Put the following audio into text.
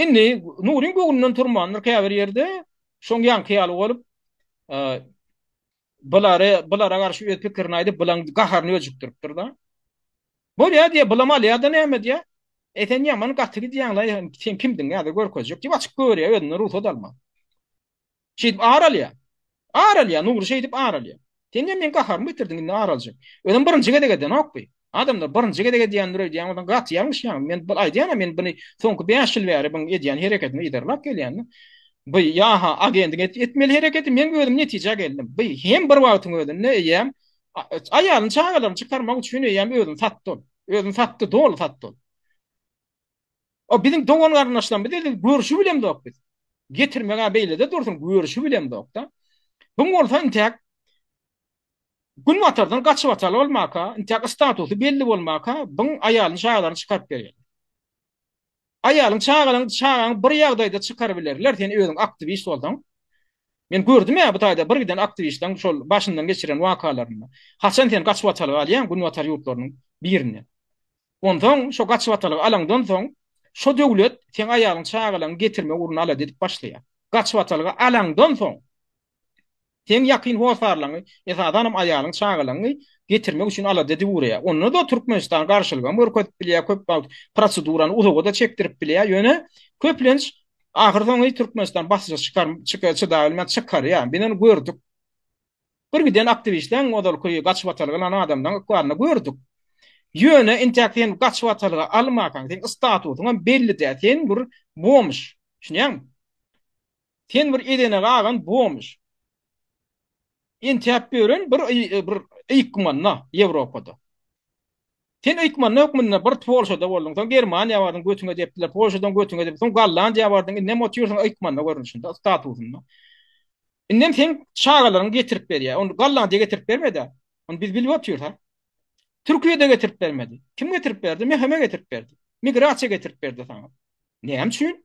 Indi nuryň göwnünden turmandyr käbir ýerde, şoň ýaňky ýaly bolup, bulary, bulara garşy öz pikirini aýdyp, bulaň gaharyny öjükdiripdir-de. Bolýa diýýär, bulam alýa-da näme diýýär. E, sen ýaman gaty gidýäň-laý, sen kimdiň nädip görkezjek diýip açyk gögerýär özünden rugsat alman. Şeýdip ar alýar. Ar alýar, Nury şeýdip ar alýar. Sen diýýär, meň gaharymy getirdiň, indi ar aljak. Özem birinji gezek edenok bi. Adamlar birinji gezek edýändir öýdýän bolsaň, gaty ýalňyşýaň. Men bir aýdýan-a, men buny soňky bäş ýyl bäri biň edýän hereketini yzarlap gelýän-de. Bi, ýa-ha, agendiň etmeli hereketi, men özüm netijä geldim. Bi, hem bir wagtyň özünde eýýäm aýalyny, çagalaryny çykarmak üçin eýýäm özüni satdy ol. Özüni satdy, doly satdy ol. O biziň dogan garyndaşlarymyz diýdi, görşi bilemzok biz. Getirmegä beýlede dursun, görşi bilemzok-da. Bu bolsa intäk Gün batardan gaçyp ataly bolmaka, intäk statusy belli bolmaka, bu aýalyny çagalaryny çykaryp berýär. Aýalyň çagalaryň çagaň bir ýagdaýda çykaryp bilerler, sen özüň aktiwist bolsaň. Men gördüm ýa bu taýda bir giden aktiwistden şol başyndan geçiren wakalaryny. Haçan sen gaçyp ataly galýaň gün batar ýurtlarynyň birine. Onsoň şo gaçybatalygy alaňdan soň, şo döwlet seň aýalyň çagalaňy getirme ugruna alady edip başlaýar. Gaçybatalygy alaňdan soň, seň ýakyn hossarlaňy, esasanam aýalyň çagalaňy getirmek üçin alada edip ugraýar. Onda-da Türkmenistan garşylygam görkezip bilýär, köp wagt prosedurany uzaga-da çekdirip bilýär, ýöne köplenç ahyrsoňy Türkmenistan basyşa çykaryp, çydabilmän çykarýar. Biz ony gördük. Bir giden aktiwistleň ozalky gaçybatalga alan adamlaryň ykbalyny gördük. Ýöne intäk sen gaçybatalga almankaň, seň statusyňam belli däl, sen bir bomž. Düşünýäňmi? Sen bir edene galan bomž. Intäp ýören bir bir eýikmanda Ýewropada. Sen öýtmanda hökmünde bir polşada bolduň soň germaniýa bardyň götüňe depdiler polşadan götüňe dep soň gollandiýa bardyň indem otyrsyň öýtmanda görnüşinde statusynda indem seň çagalaryňy getirip berýär ony gollandiýa getirip bermedä ony biz bilip otyrys a türkiýede getirip bermedi kim getirip berdi mhme getirip berdi migrasiýa getirip berdi saňa näme üçin